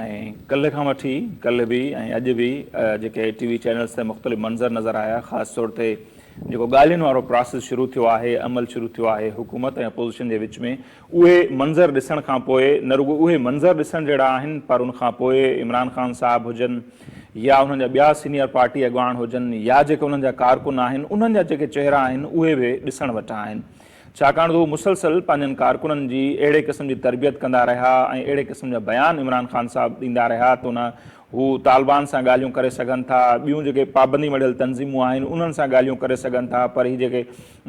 ۽ ڪلهه کان وٺي ڪلهه به ۽ اڄ به جيڪي ٽي وي چينلز تي مختلف منظر نظر آيا خاص طور تي جيڪو ڳالهين وارو پراسيس شروع ٿيو آهي عمل شروع ٿيو آهي حڪومت ۽ اپوزيشن جي وچ ۾ اهي منظر ڏسڻ کان پوء نه رڳو اهي منظر ڏسڻ جهڙا آهن پر ان کان پوء عمران خان صاحب هجن يا انهن جا ٻيا سينيئر پارٽي اڳواڻ هجن يا جيڪي انهن جا ڪارڪن آهن انهن جا جيڪي چهرا آهن اهي به ڏسڻ وٽان آهن ڇاڪاڻ ته هو مسلسل پنهنجن ڪارڪنن جي اهڙي قسم جي تربيت ڪندا رهيا ۽ اهڙي قسم جا بيان عمران خان صاحب ڏيندا رهيا ته نه هو طالبان سان ڳالهيون ڪري سگهن ٿا ٻيون جيڪي پابندي مڙهيل تنظيمون آهن انهن سان ڳالهيون ڪري سگهن ٿا پر هي جيڪي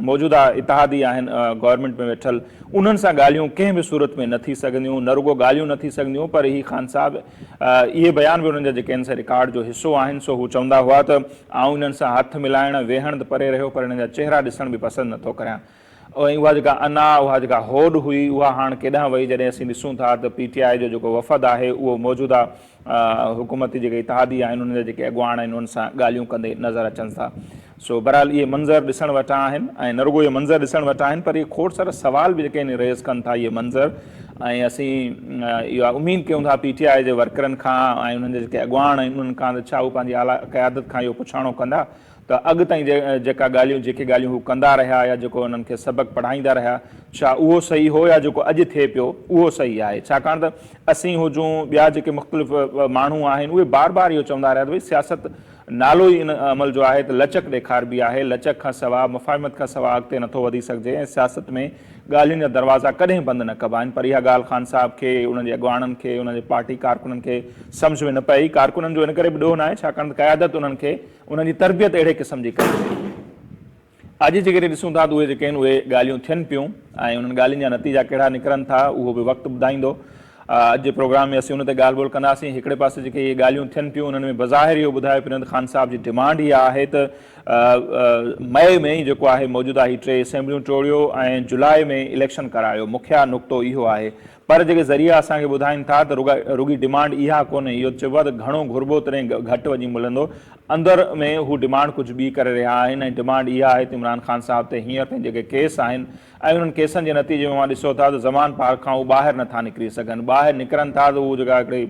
موجوده اتحادي آهن گورنمينٽ ۾ ويٺل انهن سان ڳالهيون ڪنهن به صورت ۾ نه ٿي سگهنديون نه رڳو ڳالهيون نه ٿي سگهنديون پر هي خان صاحب اهي بيان به انهن جا جيڪي آهن سي رڪارڊ جو حصو آهن سو هو چوندا هئا ته آئون انهن سان هٿ ملائڻ، ويهڻ ته پري رهيو پر انهن جا چهرا ڏسڻ به پسند نه ٿو ڪريان ۽ اها جيڪا انا، اها جيڪا هوڏ هئي اها هاڻ ڪيڏانهن وئي جڏهن اسين ڏسون ٿا ته پي ٽي آء جو جيڪو وفد آهي اهو موجوده حڪومتي جيڪي اتحادي آهن انهن جا جيڪي اڳواڻ آهن انهن سان ڳالهيون ڪندي نظر اچن ٿا سو بهرحال اهي منظر ڏسڻ وٽان آهن ۽ نه رڳو اهي منظر ڏسڻ وٽان آهن پر اهي کوڙ سارا سوال به جيڪي آهن ريز ڪن ٿا اهي منظر ۽ اسين اها اميد ڪيون ٿا پي ٽي آء جي ورڪرن کان ۽ انهن جا جيڪي اڳواڻ آهن انهن کان ته ڇا هو پنهنجي اعليٰ قيادت کان اهو پڇاڻو ڪندا ته اڳ تائين جيڪا ڳالهيون جيڪي ڳالهيون هو ڪندا رهيا يا جيڪو انهن کي سبق پڙهائيندا رهيا ڇا اهو صحيح هو يا جيڪو اڄ ٿئي پيو اهو صحيح آهي ڇاڪاڻ ته اسين هجون ٻيا جيڪي مختلف ماڻهو آهن اهي بار بار اهو چوندا رهيا ته ڀئي سياست نالو ئي ان عمل جو آهي ته لچڪ ڏيکاربي آهي، لچڪ کان سوا، مفاهمت کان سوا اڳتي نٿو وڌي سگهجي ۽ سياست ۾ ڳالهين جا دروازا ڪڏهن بند نه ڪبا آهن پر اها ڳالهه خان صاحب کي، انهن جي اڳواڻن کي، انهن جي پارٽي ڪارڪنن کي سمجهه ۾ نه پئي، ڪارڪنن جو ان ڪري به ڏوهه ناهي ڇاڪاڻ ته قيادت انهن کي، انهن جي تربيت اهڙي قسم جي ڪئي وئي. اڄ جيڪڏهن ڏسون ٿا ته اهي جيڪي آهن اهي ڳالهيون ٿين پيون ۽ انهن ڳالهين جا نتيجا ڪهڙا نڪرن ٿا اهو به وقت ٻڌائيندو. اڄ جي پروگرام ۾ اسين ان تي ڳالهه ٻولهه ڪنداسين. هڪڙي پاسي جيڪي اهي ڳالهيون ٿين پيون انهن ۾ بظاهر اهو ٻڌايو پريند خان صاحب جي ڊمانڊ اها آهي ته مئي ۾ ئي جيڪو آهي موجوده هي ٽي اسيمبليون ٽوڙيو ۽ جولاء ۾ اليڪشن ڪرايو مکيه نقطو اهو آهي پر جيڪي ذريعا اسان کي ٻڌائين ٿا ته رڳا رڳي ڊمانڊ اها ڪونهي، اهو چئبو آهي ته گهڻو گهربو تڏهن گهٽ وڃي ملندو، اندر ۾ هو ڊمانڊ ڪجهه ٻي ڪري رهيا آهن ۽ ڊمانڊ اها آهي ته عمران خان صاحب تي هينئر تائين جيڪي ڪيس آهن ۽ انهن ڪيسن جي نتيجي ۾ اوهان ڏسو ٿا ته زمان پار کان هو ٻاهر نٿا نڪري سگهن، ٻاهر نڪرن ٿا ته اهو جيڪا هڪڙي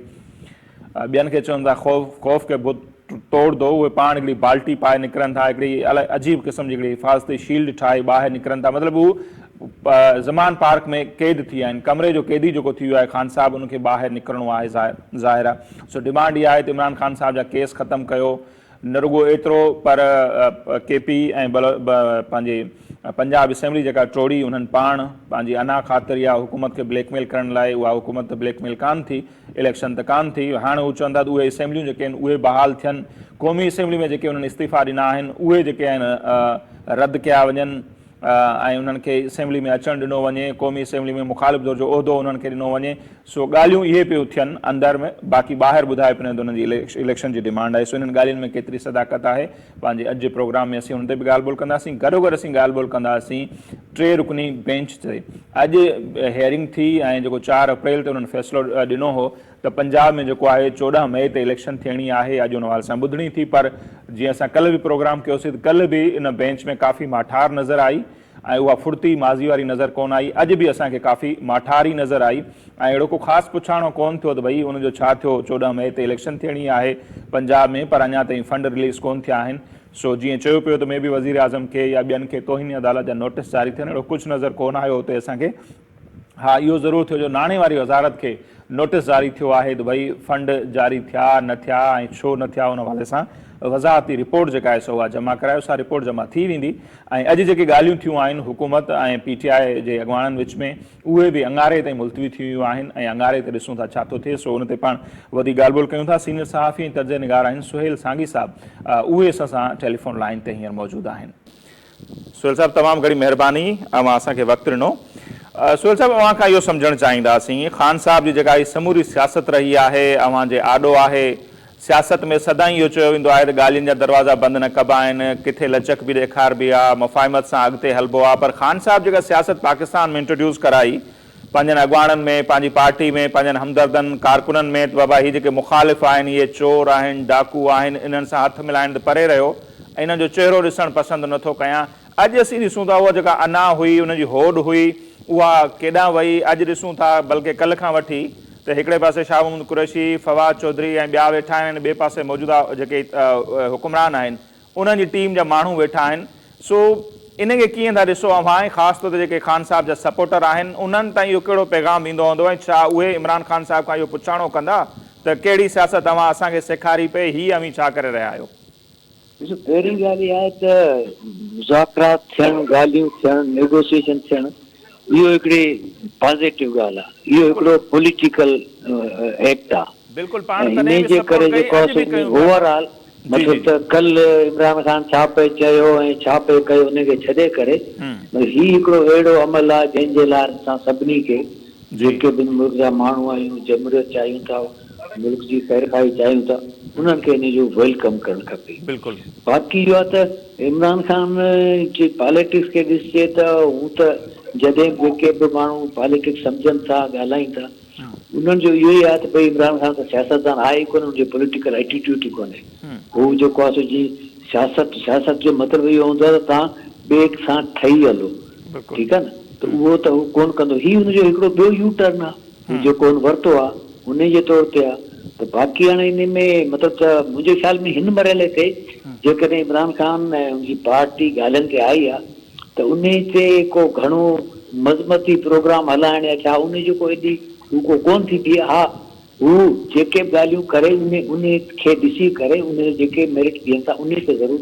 ٻين کي چون ٿا خوف خوف کي بت ٽوڙ دو اهي پاڻ هڪڙي بالٽي پائي نڪرن ٿا هڪڙي الاء عجيب قسم جي هڪڙي حفاظتي شيلڊ ٺاهي ٻاهر نڪرن ٿا مطلب هو زمان پارڪ ۾ قيد ٿي ويا آهن ڪمري جو قيدي جيڪو ٿي ويو آهي خان صاحب ان کي ٻاهر نڪرڻو آهي ظاهر ظاهر آهي سو ڊمانڊ اها آهي ته عمران خان صاحب جا ڪيس ختم ڪيو نه رڳو ايترو پر ڪي پي ۽ پنهنجي پنجاب اسيمبلي جيڪا ٽوڙي انهن پاڻ پنهنجي انا خاطر يا حڪومت کي بليڪ ميل ڪرڻ لاء اها حڪومت ته بليڪ ميل ڪانه ٿي اليڪشن ته ڪانه ٿي هاڻ هو چوندا ته اهي اسيمبليون جيڪي آهن اهي بحال ٿين قومي اسيمبلي ۾ جيڪي انهن استعيفا ڏنا آهن اهي جيڪي آهن رد ڪيا وڃن. ۽ انهن کي اسيمبلي ۾ اچڻ ڏنو وڃي، قومي اسيمبلي ۾ مخالف ڌر جو عهدو انهن کي ڏنو وڃي، سو ڳالهيون اهي پيون ٿين اندر ۾ باقي ٻاهر ٻڌايو پيو نه ته انهن جي اليڪشن جي ڊمانڊ آهي، سو انهن ڳالهين ۾ ڪيتري صداقت آهي، پنهنجي اڄ جي پروگرام ۾ اسين ان تي به ڳالهه ٻولهه ڪنداسين، گڏوگڏ اسين ڳالهه ٻولهه ڪنداسين ٽي رڪني بينچ تي اڄ هيئرنگ ٿي ۽ جيڪو چار اپريل تي انهن فيصلو ڏنو هو، ته پنجاب ۾ جيڪو آهي چوڏهن مئي تي اليڪشن ٿيڻي آهي اڄ ان حوالي سان ٻڌڻي ٿي پر جيئن اسان ڪلهه به پروگرام ڪيوسي ته ڪلهه به ان بينچ ۾ ڪافي ماٺار نظر آئي ۽ اها ڦڙتي ماضي واري نظر ڪونه آئي اڄ به اسان کي ڪافي ماٺار ئي نظر آئي ۽ اهڙو ڪو خاص پڇاڻو ڪونه ٿيو ته ڀئي ان جو ڇا ٿيو چوڏهن مئي تي اليڪشن ٿيڻي آهي پنجاب ۾ پر اڃا تائين فنڊ رليز ڪونه ٿيا آهن سو جيئن چيو پيو ته مي بي وزيراعظم کي يا ٻين کي توهين عدالت جا نوٽس جاري ٿين اهڙو ڪجهه نظر ڪونه آيو اتي اسان کي ها اهو ضرور ٿيو جو ناڻي واري وزارت کي نوٽيس جاري ٿيو آهي ته ڀئي فنڊ جاري ٿيا نه ٿيا ۽ ڇو نه ٿيا ان حوالي سان وضاحتي رپورٽ جيڪا آهي سو اها جمع ڪرايو سا رپورٽ جمع ٿي ويندي ۽ اڄ جيڪي ڳالهيون ٿيون آهن حڪومت ۽ پي ٽي آء جي اڳواڻن وچ ۾ اهي به اڱاري تائين ملتوي ٿي ويون آهن ۽ اڱاري تي ڏسون ٿا ڇا ٿو ٿئي سو ان تي پاڻ وڌيڪ ڳالهه ٻولهه ڪيون ٿا سينيئر صحافي ۽ تجزئه نگار آهن سهيل سانگي صاحب اهي اسان سان ٽيليفون لائين تي هينئر موجود آهن سهيل صاحب تمام گهڻي مهرباني اوهان اسان کي وقت ڏنو. سهيل صاحب اوهان کان اهو سمجهڻ چاهينداسين خان صاحب جي جيڪا هي سموري سياست رهي آهي اوهان جي آڏو آهي سياست ۾ سدائين اهو چيو ويندو آهي ته ڳالهين جا دروازا بند نه ڪبا آهن ڪٿي لچڪ به ڏيکاربي آهي مفاهمت سان اڳتي هلبو آهي پر خان صاحب جيڪا سياست پاڪستان ۾ انٽروڊيوس ڪرائي پنهنجن اڳواڻن ۾، پنهنجي پارٽي ۾، پنهنجن همدردن، ڪارڪنن ۾ ته بابا هي جيڪي مخالف آهن، اهي چور آهن، ڊاڪو آهن، انهن سان هٿ ملائڻ ته پري رهيو، انهن جو چهرو ڏسڻ پسند نه ٿو ڪيان. اڄ اسين ڏسون ٿا اها جيڪا انا هئي، ان جي هوڏ هئي، اها ڪيڏانهن وئي؟ اڄ ڏسون ٿا، بلڪه ڪلهه کان وٺي، ته هڪڙي پاسي شاهه محمود قريشي، فواد چوڌري ۽ ٻيا ويٺا آهن ۽ ٻئي پاسي موجوده جيڪي حڪمران آهن، انهن جي ٽيم جا ماڻهو ويٺا آهن سو ان کي ڪيئن ٿا ڏسو اوهان ۽ خاص طور تي جيڪي خان صاحب جا سپورٽر آهن انهن تائين اهو ڪهڙو پيغام ويندو هوندو ۽ ڇا اهي عمران خان صاحب کان اهو پڇاڻو ڪندا ته ڪهڙي سياست اوهان اسان کي سيکاري پئي هي اوهين ڇا ڪري رهيا آهيو. ڏسو پهرين ڳالهه اها آهي ته مذاڪرات ٿيڻ، ڳالهيون ٿيڻ، نيگوسيئيشن ٿيڻ اهو هڪڙي پازيٽو ڳالهه آ. اهو هڪڙو پوليٽيڪل ايڪٽ آ. بلڪل پاڻ تڏهن به سپورٽ ڪئي اڄ به ڪيون ٿا پيا. اوورآل مطلب ته ڪل عمران خان ڇا پئي چيو ۽ ڇا پئي ڪيو ان کي ڇڏي ڪري هي هڪڙو اهڙو عمل آ جنهن جي لاء اسان سڀني کي جيڪي به ملڪ جا ماڻهو آهيون جمهوريت چاهيون ٿا. ملڪ جي خيرخواهي چاهيون ته انهن کي ان جو ويلڪم ڪرڻ کپي. بلڪل. باقي اهو آهي ته عمران خان جي پاليٽڪس کي ڏسجي ته هو ته جڏهن به جيڪي به ماڻهو پاليٽڪس سمجهن ٿا ڳالهائين ٿا انهن جو اهو ئي آهي ته ڀئي عمران خان ته سياستدان آهي ئي ڪونه ان جو پوليٽيڪل ايٽيٽيوٽ ئي ڪونهي هو جيڪو آهي سو جيئن سياست سياست جو مطلب اهو هوندو آهي ته توهان ٻئي سان ٺهي هلو ٺيڪ آهي نه ته اهو ته هو ڪونه ڪندو هي ان جو هڪڙو ٻيو يو ٽرن آهي. هو جيڪو هن ورتو آ انهي جي طور تي آ ته باقي هاڻي انهي ۾ مطلب ته منهنجي خيال ۾ هن مرحلي تي جيڪڏهن عمران خان ۽ ان جي پارٽي ڳالهين تي آئي آ ته انهي تي ڪو گهڻو مذمتي پروگرام هلائڻ يا ڇا انهي جو ڪو ايڏي هو ڪو ڪونه ٿي بيهي ها هو جيڪي به ڳالهيون ڪري انهي کي ڏسي ڪري انهي جا جيڪي ميرٽ بيهن ٿا انهي تي ضرور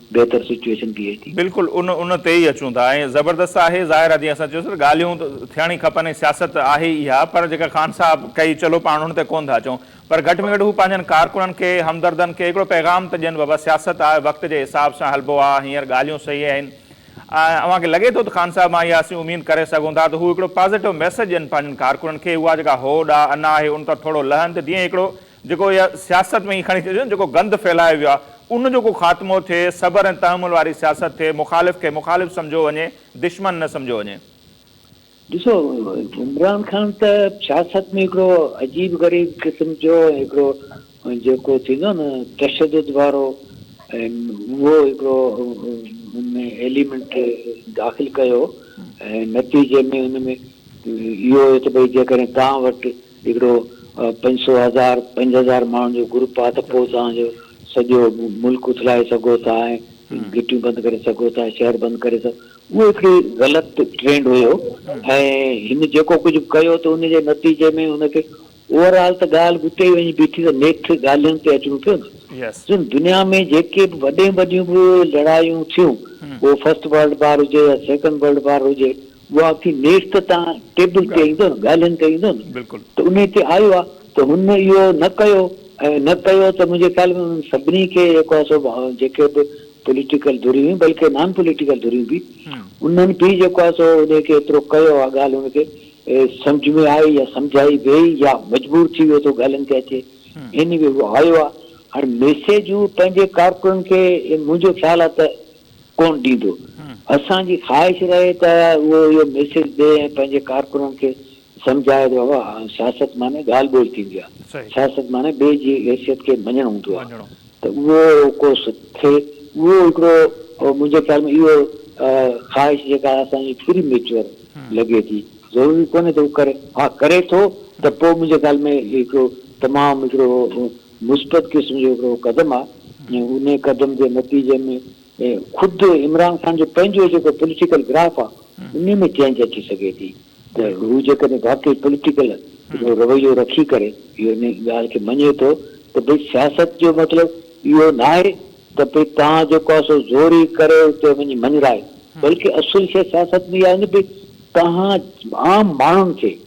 بهتر سچوئيشن بيهي ٿي. بلڪل ان ان تي ئي اچون ٿا ۽ زبردست آهي ظاهر آهي جيئن اسان چيو سين ڳالهيون ته ٿيڻ ئي کپن ۽ سياست آهي ئي اها پر جيڪا خان صاحب ڪئي چلو پاڻ ان تي ڪون ٿا اچون پر گهٽ ۾ گهٽ هو پنهنجن ڪارڪنن کي همدردن کي هڪڙو پيغام ته ڏين بابا سياست آهي وقت جي حساب سان هلبو آهي هينئر ڳالهيون صحيح آهن ۽ اوهان کي لڳي ٿو ته خان صاحب مان اها اسين اميد ڪري سگهون ٿا ته هو هڪڙو پازيٽو ميسيج ڏين پنهنجن ڪارڪنن کي اها جيڪا هوڏ آهي انا آهي ان تان ٿورو لهن ته جيئن هڪڙو جيڪو اها سياست ۾ ائين کڻي ڇڏيو جيڪو گند ڦهلايو ويو آهي ان جو ڪو خاتمو ٿئي صبر ۽ تحمل واري سياست ٿئي مخالف کي مخالف سمجهيو وڃي دشمن نه سمجهيو وڃي. ڏسو عمران خان ته سياست ۾ هڪڙو عجيب غريب قسم جو هڪڙو جيڪو ٿيندو آهي نه تشدد وارو اهو هڪڙو ان ۾ ايليمنٽ داخل ڪيو ۽ نتيجي ۾ ان ۾ اهو هيو ته ڀئي جيڪڏهن توهان وٽ هڪڙو پنج سؤ هزار پنج هزار ماڻهن جو گروپ آ ته پوء توهان جو سڄو ملڪ اٿلائي سگهو ٿا ۽ گهٽيون بند ڪري سگهو ٿا شهر بند ڪري سگهو اهو هڪڙي غلط ٽرينڊ هيو ۽ هن جيڪو ڪجهه به ڪيو ته ان جي نتيجي ۾ هن کي اوور آل ته ڳالهه اتي ئي وڃي بيٺي ته نيٺ ڳالهين تي اچڻو پيو نه سن دنيا ۾ جيڪي به وڏين وڏيون به لڙايون ٿيون پوء فرسٽ ورلڊ وار هجي يا سيڪنڊ ورلڊ وار هجي اها اکي نيٺ ته تان ٽيبل تي ايندو نه ڳالهين تي ايندو نه ته انهي تي آيو آ ته هن اهو نه ڪيو ۽ نه ڪيو ته منهنجي خيال ۾ انهن سڀني کي جيڪو آ سو جيڪي به پوليٽيڪل ڌريون هيون بلڪه نان پوليٽيڪل ڌريون به انهن به جيڪو آ سو انهي کي ايترو ڪيو آ ڳالهه ان کي سمجهه ۾ آئي يا سمجهائي ويئي يا مجبور ٿي ويو ته ڳالهين تي اچي اين وي هو آيو آ هاڻي ميسيجون پنهنجي ڪارڪنن کي منهنجو خيال آ ته ڪونه ڏيندو. اسان جي خواهش رهي ته اهو اهو ميسيج ڏئي ۽ پنهنجي ڪارڪنن کي سمجهائي ته بابا سياست معني ڳالهه ٻولهه ٿيندي آهي، سياست معني ٻئي جي حيثيت کي مڃڻ هوندو آهي ته اهو ڪو ٿئي. اهو هڪڙو منهنجي خيال ۾ اهو خواهش جيڪا اسان جي پري ميچوئر لڳي ٿي. ضروري ڪونه ته هو ڪري، ها ڪري ٿو ته پوء منهنجي خيال ۾ هڪڙو تمام هڪڙو مثبت قسم جو هڪڙو قدم آهي ۽ ان قدم جي نتيجي ۾ خود عمران خان جو پنهنجو جيڪو پوليٽيڪل گراف آهي ان ۾ چينج اچي سگهي ٿي ته هو جيڪڏهن واقعي پوليٽيڪل هڪڙو رويو رکي ڪري اهو ان ڳالهه کي مڃي ٿو ته ڀئي سياست جو مطلب اهو ناهي ته ڀئي توهان جيڪو آهي سو زوري ڪري اتي وڃي مڃرائي بلڪه اصل شيء سياست ۾ اها آهي ته ڀئي توهان عام ماڻهن کي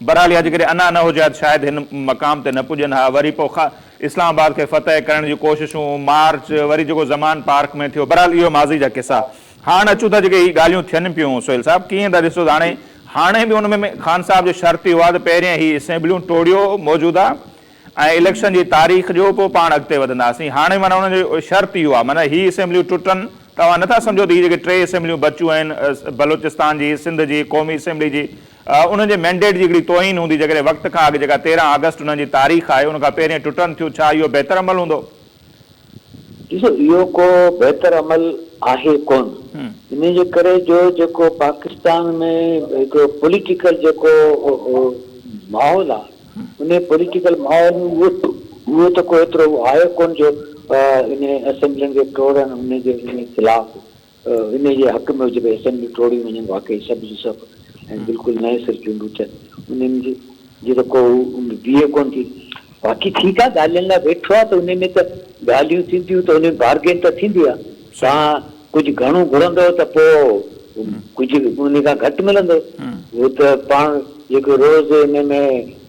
بھرحال اھا جيڪڏھن انا نه ھجي ھا ته شايد ھن مقام تي نه پڄن ھا وري پوء خا اسلام آباد کي فتح ڪرڻ جون ڪوششون مارچ وري جيڪو زمان پارڪ ۾ ٿيو بھرحال اھو ماضي جا قصا ھاڻ اچون ٿا جيڪي ھي ڳالھيون ٿين پيون سھيل صاحب ڪيئن ٿا ڏسو ته ھاڻي ھاڻي به ان ۾ خان صاحب جو شرط اھو آھي ته پهرين ھي اسيمبليون ٽوڙيو موجوده ۽ اليڪشن جي تاريخ ڏيو پوء پاڻ اڳتي وڌنداسين ھاڻي معنيٰ ان جو شرط اھو آھي معنيٰ ھي اسيمبليون ٽٽن ته اوھان نه ٿا سمجھو ته ھي جيڪي ٽي اسيمبليون بچيون آھن بلوچستان جي سنڌ جي قومي اسيمبلي جي انهن جي مينڊيٽ جي هڪڙي توهين هوندي جيڪڏهن وقت کان اڳ جيڪا تيرهن آگسٽ انهن جي تاريخ آهي ان کان پهرين ٽٽن ٿيون ڇا اهو بهتر عمل هوندو؟ ڏسو اهو ڪو بهتر عمل آهي ڪونه انهي جي ڪري جو جيڪو پاڪستان ۾ هڪڙو پوليٽيڪل جيڪو ماحول آهي انهي پوليٽيڪل ماحول اهو ته ڪو ايترو آهي ڪونه جو انهي اسيمبلين کي ٽوڙڻ انهي جي خلاف انهيء جي حق ۾ جيڪي اسيمبليون ٽوڙيون وڃن واقعي سڀ جون سڀ ۽ بلڪل نئين سر چونڊون ٿين انهن جي ته ڪو بيهه ڪونه ٿي. باقي ٺيڪ آهي ڳالهين لاء ويٺو آهي ته انهي ۾ ته ڳالهيون ٿينديون ته انهي ۾ بارگين ته ٿيندي آهي. توهان ڪجهه گهڻو گهرندؤ ته پوء ڪجهه انهي کان گهٽ ملندو. هو ته پاڻ جيڪو روز انهي ۾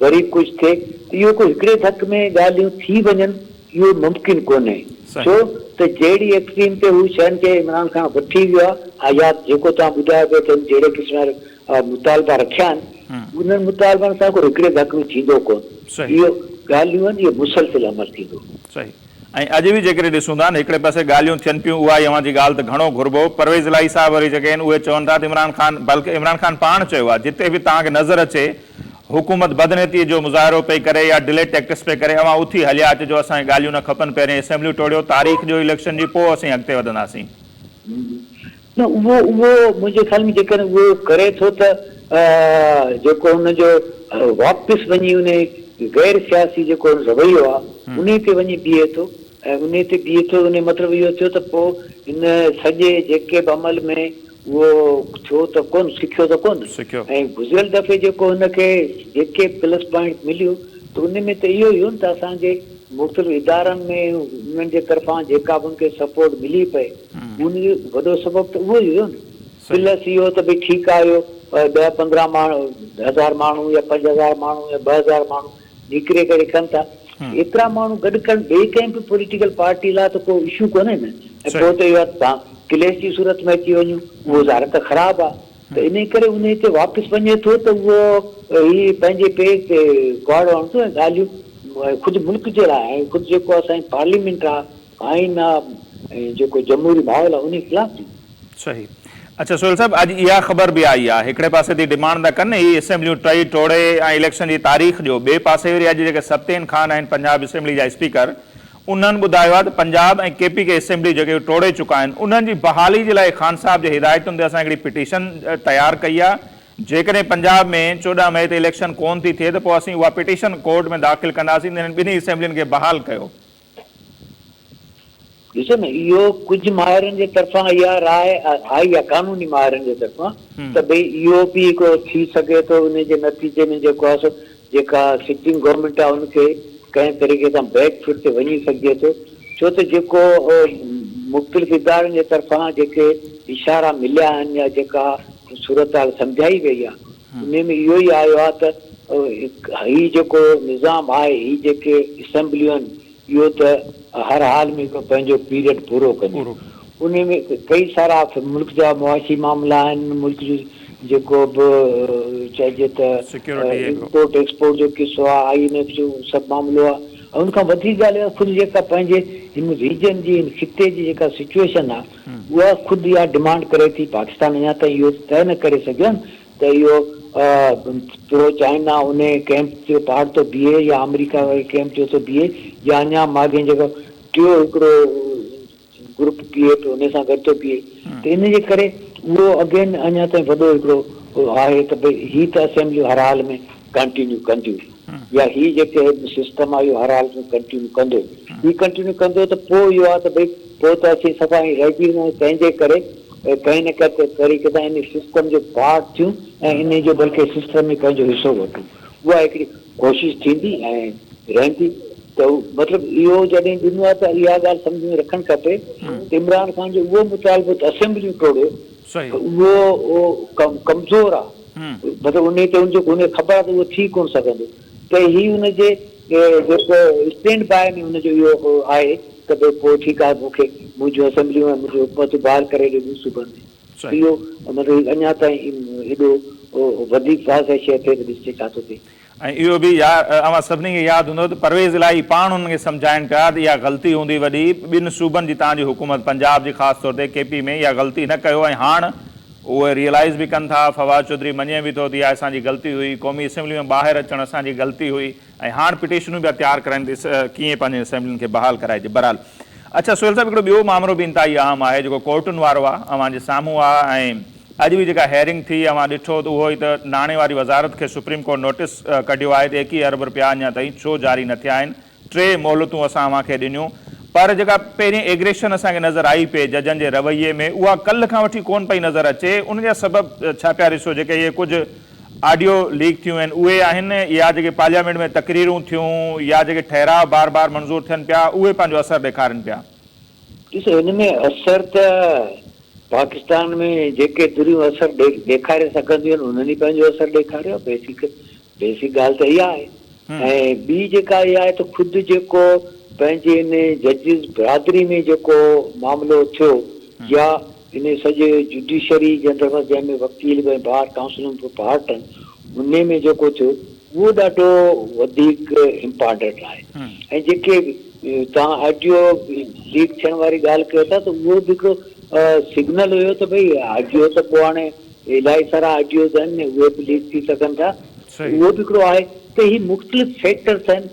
وري ڪجهه ٿئي ته اهو ڪو هڪڙي ڌڪ ۾ ڳالهيون ٿي وڃن اهو ممڪن ڪونهي ڇو ته جهڙي ايڪسٽريم تي هو شين کي عمران خان وٺي ويو آهي يا جيڪو توهان ٻڌايو پيو ته هن جهڙي قسم جا مطالبا رکيا آهن انهن مطالبن سان ڪو هڪڙي ڌڪ ۾ ٿيندو ڪونه اهو ڳالهيون آهن اهو مسلسل عمل ٿيندو. صحيح ۽ اڄ به جيڪڏهن ڏسون ٿا نه هڪڙي پاسي ڳالهيون ٿين پيون اها اوهان جي ڳالهه ته گهڻو گهربو پرويز الاهي صاحب وري جيڪي آهن اهي چون ٿا ته عمران خان بلڪ عمران خان پاڻ چيو آهي جتي به توهان کي نظر اچي حڪومت بدنيتي جو مظاهرو پئي ڪري يا ڊلي ٽيڪٽس پئي ڪري اوهان اٿي هليا اچجو اسان کي ڳالهيون نه کپن پهرين اسيمبليون ٽوڙيو تاريخ ڏيو اليڪشن جي پوء اسين اڳتي وڌنداسين. نه اهو اهو منهنجي خيال ۾ جيڪڏهن اهو ڪري ٿو ته جيڪو هن جو واپس وڃي انهي غير سياسي جيڪو رويو آهي انهي تي وڃي بيهي ٿو ۽ انهي تي بيهي ٿو انهي مطلب اهو ٿيو ته پوء هن سڄي جيڪب عمل ۾ اهو ڇو ته ڪونه سکيو ته ڪونه سکيو. ۽ گذريل دفعي جيڪو هن کي جيڪي به پلس پوائنٽس مليو ته ان ۾ ته اهو ئي هو نه ته اسان جي مختلف ادارن ۾ انهن جي طرفان جيڪا به ان کي سپورٽ ملي پئي ان جو وڏو سبب ته اهو ئي هيو نه پلس اهو ته ڀئي ٺيڪ آهي اهو ڏهه پندرهن ماڻهو هزار ماڻهو يا پنج هزار ماڻهو يا ٻه هزار ماڻهو نيڪري ڪري ڪن ٿا ايترا ماڻهو گڏ ڪرڻ ٻئي ڪنهن به پوليٽيڪل پارٽي لاء ته ڪو اشو ڪونهي نه ۽ پوء ته اهو آهي ته ڪليش جي صورت ۾ اچي وڃون اهو ظاهر ته خراب آهي ته انهي ڪري انهي تي واپس وڃي ٿو ته اهو هي پنهنجي پير تي ڪهاڙو هڻندو ۽ ڳالهيون خود ملڪ جي لاء خود جيڪو اسان جي پارليامينٽ آهي آئين آ ۽ جيڪو جمهوري ماحول آ انهي خلاف ٿي. صحيح اڇا سهيل صاحب اڄ اها خبر به آئي آ هڪڙي پاسي تي ڊمانڊ ٿا ڪن هي اسيمبليون ٽهي ٽوڙي ۽ اليڪشن جي تاريخ ڏيو ٻئي پاسي وري اڄ جيڪي ستين خان آهن پنجاب اسيمبلي جا اسپيڪر انهن ٻڌايو آ ته Punjab ۽ K P K assembly جيڪي هو ٽوڙي چڪا آهن انهن جي بحالي جي لاء خان صاحب جي هدايتن تي اسان هڪڙي پٽيشن تيار ڪئي آ جيڪڏهن پنجاب ۾ چوڏهن مئي تي اليڪشن ڪون ٿي ٿئي ته پوء اسين اها پٽيشن ڪورٽ ۾ داخل ڪنداسين ته هنن ٻنهي اسيمبلين کي بحال ڪيو ڏسو نه اهو ڪجهه ماهرن جي طرفان اها راء آئي آهي قانوني ماهرن جي طرفان ته ڀئي اهو به هڪڙو ٿي سگهي ٿو ان جي نتيجي ۾ جيڪو آهي سو جيڪا سٽنگ گورنمينٽ آهي ان کي ڪنهن طريقي سان بيڪ فٽ تي وڃي سگهجي ٿو ڇو ته جيڪو مختلف ادارن جي طرفان جيڪي اشارا مليا آهن يا جيڪا صورتحال سمجهائي وئي آهي انهيء ۾ اهو ئي آيو آهي ته هي جيڪو نظام آهي، هي جيڪي اسيمبليون آهن، اهو ته هر حال ۾ پنهنجو پيريڊ پورو ڪنديون. انهيء ۾ ڪئي سارا ملڪ جا معاشي معاملا آهن، ملڪ جو جيڪو به چئجي ته امپورٽ ايڪسپورٽ جو قصو آهي، آء اين ايف جو سڀ معاملو آهي ۽ ان کان وڌيڪ ڳالهه اها خود جيڪا پنهنجي هن ريجن جي، هن خطي جي جيڪا سچوئيشن آهي، اها خود اها ڊمانڊ ڪري ٿي، پاڪستان اڃا تائين اهو طئي نه ڪري سگهيو آهي ته اهو پرو چائنا انهي ڪئمپ جو پارٽ ٿو بيهي يا آمريڪا واري ڪئمپ جو ٿو بيهي يا اڃا ماڳهين جيڪو ٽيو هڪڙو گروپ بيهي پيو انهي سان گڏ ٿو بيهي ته ان جي ڪري اهو اگين اڃا تائين وڏو هڪڙو آهي ته ڀئي هي ته اسيمبليون هر حال ۾ ڪنٽينيو ڪنديون. يا هي جيڪي هي سسٽم آهي اهو هر حالت ۾ ڪنٽينيو ڪندو هي ڪنٽينيو ڪندو ته پوء اهو آهي ته ڀئي پوء ته اسين صفا ائين رهجي ويندا آهيون تنهن جي ڪري ڪنهن نه ڪنهن طريقي سان ان سسٽم جو پارٽ ٿيون ۽ انهي جو بلڪه سسٽم ۾ پنهنجو حصو وٺون اها هڪڙي ڪوشش ٿيندي ۽ رهندي ته مطلب اهو جڏهن ڏنو آهي ته اها ڳالهه سمجهه ۾ رکڻ کپي ته عمران خان جو اهو مطالبو ته اسيمبليون ٽوڙيو ته اهو ڪمزور آهي. مطلب انهيء تي ان کي ڪونهي خبر ته اهو ٿي ڪونه سگهندو ته هي ان جي جيڪو اسٽينڊ باء ۾ ان جو اهو آهي ته ڀئي پوء ٺيڪ آهي مون کي منهنجون اسيمبليون ۽ منهنجون حڪومتون بحال ڪري ڏينديون صوبن ۾ اهو مطلب اڃا تائين ايڏو وڌيڪ واضح شيء ٿئي ته ڏسجي ڇا ٿو ٿئي. ۽ اهو به اوهان سڀني کي ياد هوندو ته پرويز الاهي پاڻ انهن کي سمجهائين پيا ته اها غلطي هوندي وڏي ٻن صوبن جي توهان جي حڪومت پنجاب جي خاص طور تي ڪي پي ۾ اها غلطي نه ڪيو ۽ هاڻ اهي ريئلائيز به ڪن ٿا فواد چوڌري مڃي به ٿو ته اها اسان جي غلطي هئي قومي اسيمبلي ۾ ٻاهر اچڻ اسان جي غلطي هئي ۽ هاڻ پٽيشنون پيا تيار ڪرائين ته ڪيئن پنهنجين اسيمبلين کي بحال ڪرائجي برحال اڇا سهيل صاحب هڪڙو ٻيو مامرو به انتهائي اهم آهي جيڪو ڪورٽن وارو آهي اوهان جي سامهون آهي ۽ اڄ به جيڪا هيئرنگ ٿي اوهان ڏٺو ته اهو ئي ته ناڻي واري وزارت کي سپريم ڪورٽ نوٽيس ڪڍيو آهي ته ايڪيهه ارب رپيا اڃا تائين ڇو جاري نه ٿيا آهن ٽي مهلتون اسان اوهان کي ڏنيون پر جيڪا پهرين ايگريشن اسان کي نظر آئي پئي ججن جي رويي ۾ اها ڪلهه کان وٺي ڪونه پئي نظر اچي ان جا سبب ڇا پيا رسو جيڪي اهي ڪجهه آڊيو ليڪ ٿيون آهن اهي آهن يا جيڪي پارليامينٽ ۾ تقريرون ٿيون يا جيڪي ٺهراء بار بار منظور ٿين پيا اهي پنهنجو اثر ڏيکارين پيا. ڏسو هن ۾ اثر ته پاڪستان ۾ جيڪي ڌريون اثر ڏيکاري سگهنديون آهن انهن ئي پنهنجو اثر ڏيکاريو آهي بيسڪ بيسڪ ڳالهه ته اها آهي ۽ ٻي جيڪا اها آهي ته خود جيڪو پنهنجي ان ججز برادري ۾ جيڪو معاملو ٿيو يا انهيء سڄي جڊيشري جي اندر بس جنهن ۾ وڪيل به ۽ بار ڪائونسلون به پارٽ آهن انهيء ۾ جيڪو ٿيو اهو ڏاڍو وڌيڪ امپارٽنٽ آهي ۽ جيڪي توهان آڊيو ليڪ ٿيڻ واري ڳالهه ڪيو ٿا ته اهو به هڪڙو سگنل هيو ته ڀئي آڊيو ته پوء هاڻي الائي سارا آڊيوز آهن اهي به ليڪ ٿي سگهن ٿا اهو به هڪڙو آهي ته هي مختلف فيڪٽرس آهن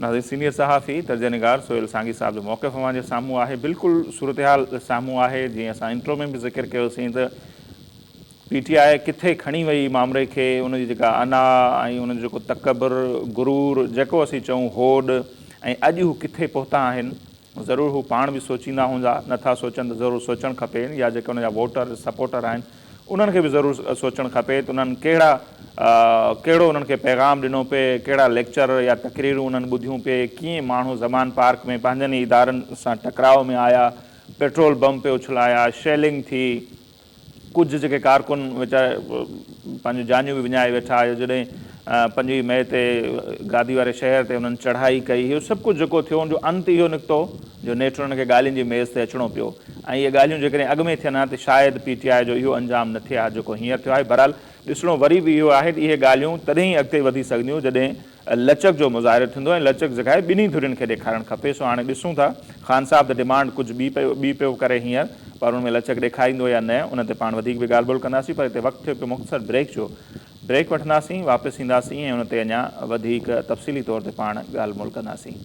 ناظرين سينيئر صحافي تجزيهنگار سهيل سانگي صاحب جو موقف اوهان جي سامهون آهي بلڪل صورتحال سامهون آهي جيئن اسان انٽرو ۾ به ذڪر ڪيوسين ته پي ٽي آء ڪٿي کڻي وئي مامري کي ان جي جيڪا انا ۽ ان جو جيڪو تڪبر غرور جيڪو اسين چئون هوڏ ۽ اڄ هو ڪٿي پهتا آهن ضرور هو پاڻ به سوچيندا هوندا، نه ٿا سوچن ته ضرور سوچڻ کپي يا جيڪي ان جا ووٽر سپورٽر آهن انهن کي به ضرور سوچڻ کپي ته انهن ڪهڙا ڪهڙو انهن کي پيغام ڏنو پئي، ڪهڙا ليڪچر يا تقريرون انهن ٻڌيون پئي، ڪيئن ماڻهو زمان پارڪ ۾ پنهنجن ئي ادارن سان ٽڪراء ۾ آيا، پيٽرول بم پئي اڇلايا، شيلنگ ٿي، ڪجهه جيڪي ڪارڪن ويچارا پنهنجون جانيون به وڃائي ويٺا، يا جڏهن پنجويهه مئي تي گادي واري شهر تي انهن چڙهائي ڪئي، اهو سڀ ڪجهه جيڪو ٿيو، ان جو انت اهو نڪتو جو نيٺ انهن کي ڳالهين جي ميز تي اچڻو پيو ۽ اهي ڳالهيون جيڪڏهن اڳ ۾ ٿين ها ته شايد پي ٽي آء جو اهو انجام نه ٿئي ها جيڪو هينئر ٿيو آهي. بهرحال ڏسڻو وري به اهو آهي ته اهي ڳالهيون تڏهن ئي اڳتي وڌي سگهنديون جڏهن لچڪ جو مظاهرو ٿيندو ۽ لچڪ جيڪا ٻنهي ڌرين کي ڏيکارڻ کپي سو هاڻي ڏسون ٿا خان صاحب ته ڊمانڊ ڪجهه ٻي پيو ٻي پيو ڪري هينئر پر ان ۾ لچڪ ڏيکاريندو يا نه ان تي پاڻ وڌيڪ به ڳالهه ٻولهه ڪنداسين پر هتي وقت ٿيو پيو مختصر بريڪ جو بريڪ وٺنداسين واپس اينداسين ۽ ان تي اڃا وڌيڪ تفصيلي طور تي پاڻ ڳالهه مول ڪنداسين.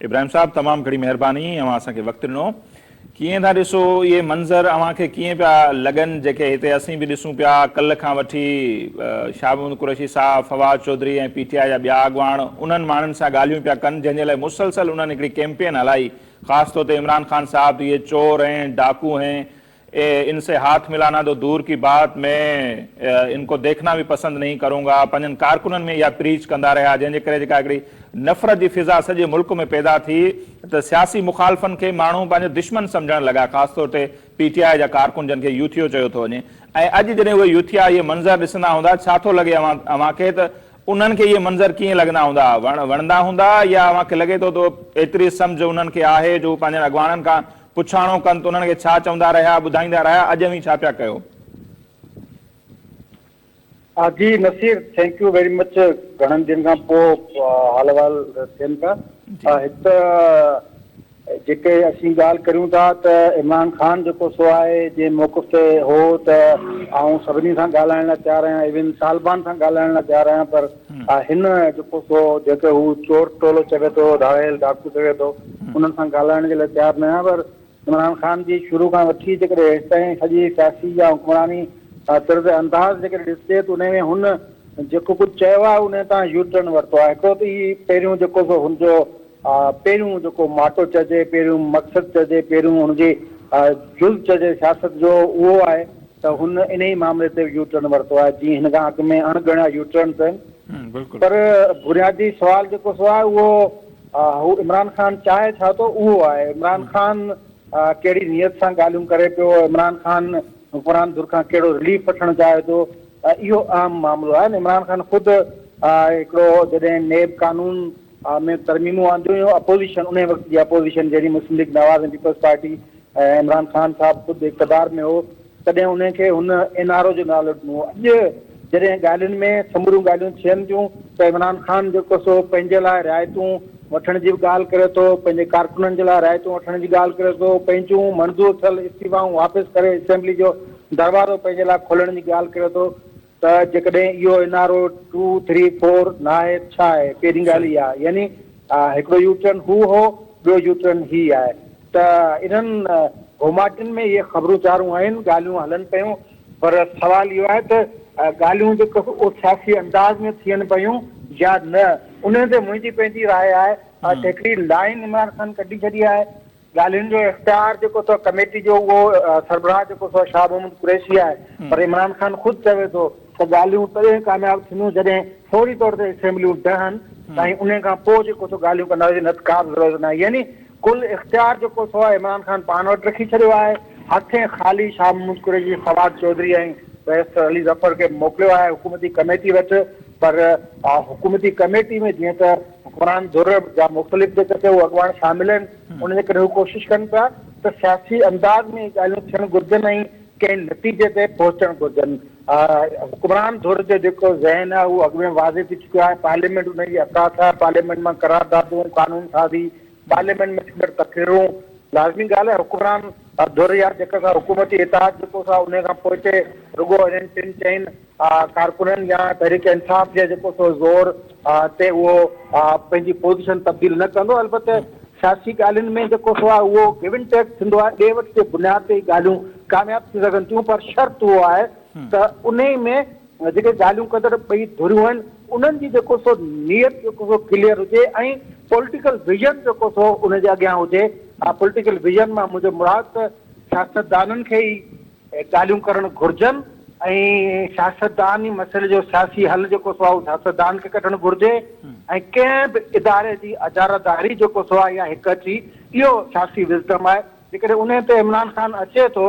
ابراهيم صاحب تمام گھڻي مهرباني اوهان اسان کي وقت ڏنو. ڪيئن ٿا ڏسو اهي منظر اوهان کي ڪيئن پيا لڳن جيڪي هتي اسين به ڏسون پيا ڪلھ کان وٺي شاهه محمد قريشي صاحب، Fawad Chaudhry ۽ P T I جا ٻيا اڳواڻ انهن ماڻهن سان ڳالهيون پيا ڪن جنهن جي لاء مسلسل انهن هڪڙي ڪيمپين هلائي خاص طور تي عمران خان صاحب ته اهي چور هين ڊاڪو هين ان سي هاٿ ملانا تو دور ڪي بات مين ان ڪو ديکنا به پسند نهين ڪرون گا پنهنجن ڪارڪنن ۾ اها پريچ ڪندا رهيا جنهن جي ڪري جيڪا هڪڙي نفرت جي فضا سڄي ملڪ ۾ پيدا ٿي ته سياسي مخالفن کي ماڻهو پنهنجو دشمن سمجهڻ لڳا خاص طور تي پي ٽي آء جا ڪارڪن جن کي يوٿيو چيو ٿو وڃي ۽ اڄ جڏهن اهي يوٿيا اهي منظر ڏسندا هوندا ڇا ٿو لڳي اوهان کي ته انهن کي اهي منظر ڪيئن لڳندا هوندا وڻندا هوندا يا اوهان کي لڳي ٿو ته ايتري سمجهه انهن کي آهي جو هو پنهنجن اڳواڻن کان پڇاڻو ڪن ته انهن کي ڇا چوندا رهيا، ٻڌائيندا رهيا، اڄ اوهين ڇا پيا ڪيو؟ جي Naseer thank you very much گهڻن ڏينهن کان پوء حال احوال ٿين پيا هڪ ته جيڪي اسين ڳالهه ڪريون ٿا ته عمران خان جيڪو سو آهي جنهن موقف تي هو ته آئون سڀني سان ڳالهائڻ لاء تيار آهيان ايون طالبان سان ڳالهائڻ لاء تيار آهيان پر ها هن جيڪو سو جيڪي هو چور ٽولو چوي ٿو ڌاڙيل ڊاڪو چوي ٿو انهن سان ڳالهائڻ جي لاء تيار نه آهيان پر عمران خان جي شروع کان وٺي جيڪڏهن هيستائين سڄي سياسي يا حڪمراني طرز انداز جيڪڏهن ڏسجي ته انهي ۾ هن جيڪو ڪجهه چيو آهي انهي تان يوٽرن ورتو آهي هڪڙو ته هي پهريون جيڪو سو هن جو پهريون جيڪو ماٽو چئجي، پهريون مقصد چئجي، پهريون ان جي جز چئجي سياست جو اهو آهي ته هن انهي معاملي تي يو ٽرن ورتو آهي، جي هن کان اڳ ۾ اڻ ڳڻيا يو ٽرن ٿيا آهن پر بنيادي سوال جيڪو سو آهي اهو هو عمران خان چاهي ڇا ٿو اهو آهي، عمران خان ڪهڙي نيت سان ڳالهيون ڪري پيو، عمران خان حڪمران ڌر کان ڪهڙو رليف وٺڻ چاهي ٿو، اهو اهم معاملو آهي، عمران خان خود هڪڙو جڏهن نيب قانون آء ۾ ترميمون آنديون ويون، اپوزيشن انهيء وقت جي اپوزيشن جڏهن Muslim League Nawaz ۽ Peoples Party ۽ Imran Khan صاحب خود اقتدار ۾ هو تڏهن انهن کي هن اين آر او جو نالو ڏنو هو اڄ جڏهن ڳالهين ۾ سموريون ڳالهيون ٿين ٿيون ته عمران خان جيڪو سو پنهنجي لاء رعايتون وٺڻ جي به ڳالهه ڪري ٿو پنهنجي ڪارڪنن جي لاء رعايتون وٺڻ جي ڳالهه ڪري ٿو پنهنجون منظور ٿيل استعيفائون واپس ڪري اسيمبلي جو دروازو پنهنجي لاء کولڻ جي ڳالهه ڪري ٿو ته جيڪڏهن اهو N R O two three four ناهي ته ڇا آهي؟ پهرين ڳالهه اها يعني هڪڙو يو ٽرن هو هو ٻيو يو ٽرن هي آهي ته انهن گهوماٽين ۾ اهي خبرون چارون آهن ڳالهيون هلن پيون پر سوال اهو آهي ته ڳالهيون به ڪو سياسي انداز ۾ ٿين پيون يا نه انهي تي منهنجي پنهنجي راء آهي ۽ هڪڙي لائين عمران خان ڪڍي ڇڏي آهي ڳالهين جو اختيار جيڪو اٿو ڪميٽي جو اهو سربراهه جيڪو سو شاهه محمود قريشي آهي پر عمران خان خود چوي ٿو ته ڳالهيون تڏهن ڪامياب ٿينديون جڏهن فوري طور تي اسيمبليون ڊهن ۽ انهي کان پوء جيڪو سو ڳالهيون ڪندا هجي نه ته ڪا به ضرورت ناهي يعني ڪل اختيار جيڪو سو آهي عمران خان پاڻ وٽ رکي ڇڏيو آهي هٿين خالي شاهه محمود قريشي فواد چوڌري ۽ بيرسٽر علي ظفر کي موڪليو آهي حڪومتي ڪميٽي وٽ پر حڪومتي ڪميٽي ۾ جيئن ته حڪمران ڌر جا مختلف جيڪي ڪي اڳواڻ شامل آهن ان جي ڪري هو ڪوشش ڪن پيا ته سياسي انداز ۾ ڳالهيون ٿيڻ گهرجن ۽ ڪنهن نتيجي تي پهچڻ گهرجن حڪمران ڌر جو جيڪو ذهن آهي اهو اڳ ۾ واضح ٿي چڪو آهي پارليامينٽ ان جي اثاث آهي پارليامينٽ مان قراردادون قانون سازي پارليامينٽ ۾ ٿيندڙ تقريرون لازمي ڳالهه آهي حڪمران ڌر يا جيڪا سا حڪومتي اتحاد جيڪو سا ان کان پوئتي رڳو انهن ٽن چئن ڪارڪنن يا تحريڪ انصاف جي جيڪو سو زور تي اهو پنهنجي پوزيشن تبديل نه ڪندو البته سياسي ڳالهين ۾ جيڪو سو آهي اهو گيو اينڊ ٽيڪ ٿيندو آهي ڏي وٺ جي بنياد تي ڳالهيون ڪامياب ٿي سگهن ٿيون پر شرط اهو آهي ته انهي ۾ جيڪي ڳالهيون ڪندڙ ٻئي ڌريون آهن انهن جي جيڪو سو نيت جيڪو سو ڪليئر هجي ۽ پوليٽيڪل ويزن جيڪو سو ان جي اڳيان هجي پوليٽيڪل ويزن مان منهنجو مراد ته سياستدانن کي ئي ڳالهيون ڪرڻ گهرجن ۽ سياستدان ئي مسئلي جو سياسي حل جيڪو سو آهي اهو سياستدان کي ڪڍڻ گهرجي ۽ ڪنهن به اداري جي اجاراداري جيڪو سو آهي اها هڪ اچي اهو سياسي وزڊم آهي جيڪڏهن انهي تي عمران خان اچي ٿو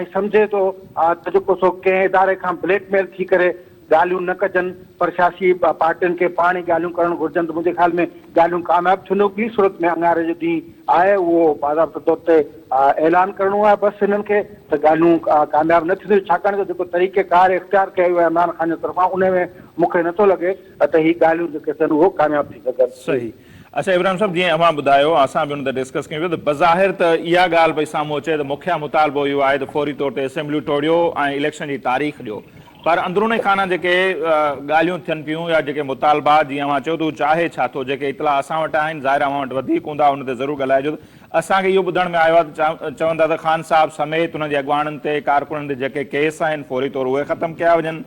۽ سمجهي ٿو ته جيڪو سو ڪنهن اداري کان بليڪ ميل ٿي ڪري ڳالهيون نه ڪجن پر سياسي پارٽين کي پاڻ ئي ڳالهيون ڪرڻ گهرجن ته منهنجي خيال ۾ ڳالهيون ڪامياب ٿينديون ٻي صورت ۾ اڱاري جو ڏينهن آهي اهو باضابطه طور تي اعلان ڪرڻو آهي بس هنن کي ته ڳالهيون ڪامياب نه ٿينديون ڇاڪاڻ جو جيڪو طريقه ڪار اختيار ڪيو ويو آهي عمران خان جي طرفان ان ۾ مون کي نٿو لڳي ته هي ڳالهيون جيڪي ٿين اهو ڪامياب ٿي سگهن. صحيح اچا ابراهيم صاحب جيئن اوهان ٻڌايو اسان به ان تي ڊسڪس ڪيون پيو ته بظاهر ته اها ڳالهه پئي سامهون اچي ته مکيه مطالبو اهو آهي ته فوري طور تي اسيمبليون ٽوڙيو ۽ اليڪشن جي تاريخ ڏيو پر اندروني خانه جيڪي ڳالهيون ٿين پيون يا جيڪي مطالبا جي اوهان چيو ته هو چاهي ڇا ٿو جيڪي اطلاع اسان وٽ آهن ظاهر اوهان وٽ وڌيڪ هوندا ان تي ضرور ڳالهائجو ته اسان کي اهو ٻڌڻ ۾ آيو آهي ته چون ٿا ته خان صاحب سميت هن جي اڳواڻن تي ڪارڪنن تي جيڪي ڪيس آهن فوري طور اهي ختم ڪيا وڃن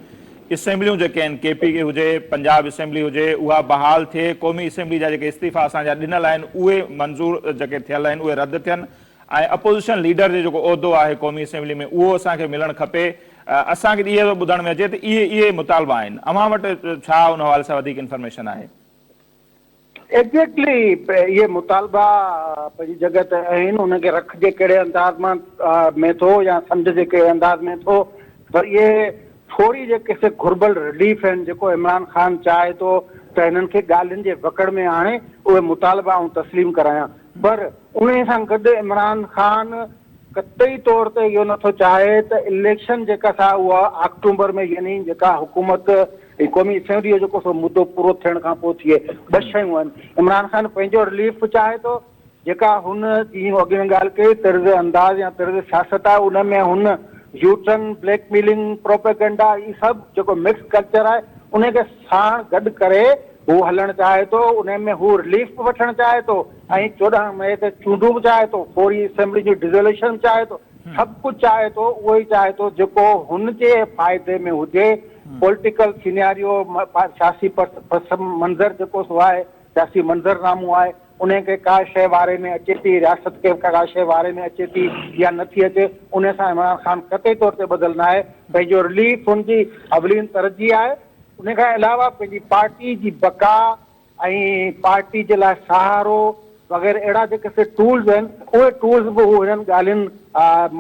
اسيمبليون جيڪي آهن ڪي پي ڪي هجي پنجاب اسيمبلي هجي اها بحال ٿئي قومي اسيمبلي جا جيڪي استعيفا اسان جا ڏنل آهن اهي منظور جيڪي ٿيل آهن اهي رد ٿين ۽ اپوزيشن ليڊر جو جيڪو عهدو آهي قومي اسيمبلي ۾ اهو اسان کي ملڻ کپي، اسان کي اهي ٿو ٻڌڻ ۾ اچي ته اهي اهي مطالبا آهن، اوهان وٽ ڇا ان حوالي سان وڌيڪ انفارميشن آهي؟ ايگزيڪٽلي اهي مطالبا پنهنجي جڳهه تي آهن، انهن کي رخ جي ڪهڙي انداز مان ۾ ٿو يا سمجهه جي ڪهڙي انداز ۾ ٿو پر اهي ٿوري جيڪي سي گهربل رليف آهن جيڪو عمران خان چاهي ٿو ته هنن کي ڳالهين جي وڪڙ ۾ آڻي اهي مطالبا آئون تسليم ڪرايان پر انهي سان گڏ عمران خان قطعي طور تي اهو نٿو چاهي ته اليڪشن جيڪا سا اها آڪٽومبر ۾ يعني جيڪا حڪومت قومي اسيمبلي جو جيڪو سو مدو پورو ٿيڻ کان پوء ٿئي ٻه شيون آهن عمران خان پنهنجو رليف به چاهي ٿو جيڪا هن ڏينهن اڳ ۾ ڳالهه ڪئي، طرز انداز يا طرز سياست آهي، ان ۾ هن يوٽرن، بليڪ ميلنگ، پروپيگنڊا هي سڀ جيڪو مڪس ڪلچر آهي، انهي کي ساڻ گڏ ڪري هو هلڻ چاهي ٿو، انهي ۾ هو رليف به وٺڻ چاهي ٿو ۽ چوڏهن مئي تي چونڊون به چاهي ٿو، فوري اسيمبلي جي ڊزوليشن به چاهي ٿو، سڀ ڪجهه چاهي ٿو، اهو ئي چاهي ٿو جيڪو هن جي فائدي ۾ هجي، پوليٽيڪل سيناريو، سياسي پس منظر جيڪو سو آهي، سياسي منظرنامو آهي. انهيء کي ڪا شيء واري ۾ اچي ٿي، رياست کي ڪا شيء واري ۾ اچي ٿي يا نه ٿي اچي، انهيء سان عمران خان قطعي طور تي ٻڌل ناهي. پنهنجو رليف هن جي اولين ترجيح آهي. انهيء کان علاوه پنهنجي پارٽي جي بقا ۽ پارٽي جي لاء سهارو وغيره اهڙا جيڪي سي ٽولز آهن، اهي ٽولز به هو انهن ڳالهين